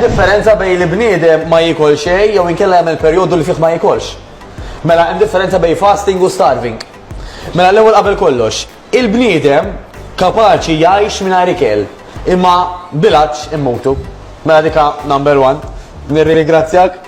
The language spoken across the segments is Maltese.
differenza bejn li bniedem ma jikol xejn jew inkella jagħmel perjodu li fih ma jikolx. Mela hemm differenza bejn fasting u starving. Mela l-ewwel qabel kollox, il-bniedem kapaċi jgħix mingħajr ikel, imma bilaċ immutu. Mela dika number one. Nirringrazzjak.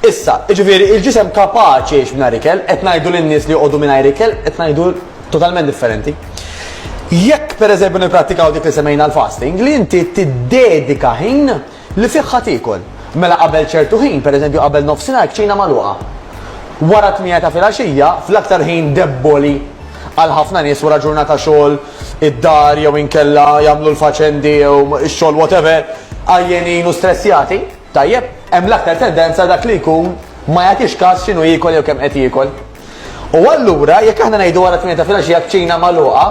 Issa, jiġifieri, il-ġisem kapaċi jgħix mingħajr ikel, qed ngħidu lin-nies li joqogħdu mingħajr ikel, qed ngħidu totalment differenti. Jekk, pereżempju, nipprattikaw dik li semmejna l-fasting, li inti tiddedika ħin li fih ħa tiekol. Mela qabel ċertu ħin, pereżempju qabel nofsinhar, kċina magħluqa. Wara t-tmiegħa ta' filgħaxija, fl-aktar ħin debboli għal ħafna nies wara ġurnata xogħol id-dar jew inkella jagħmlu l-faċendi jew ix-xogħol whatever, għajjenin u stressjati, Tajjeb, hemm l-aktar tendenza għal dak li jkun ma jagħtix kas x'inhu jiekol jew kemm qed jiekol. U allura, jekk aħna ngħidu wara t-tmien ta' filgħaxija kċina magħluqa,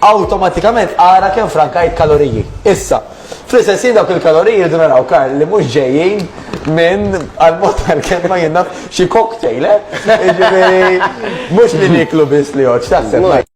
awtomatikament ara kemm frankajt kaloriji. Issa, fl-istess ħin dawk il-kaloriji rridu naraw, Karl, li mhux ġejjin minn, għall-mod tal-kelma jien naf, xi cocktail, eh? Jiġifieri, mhux li nieklu biss li jgħodd, x'taħseb?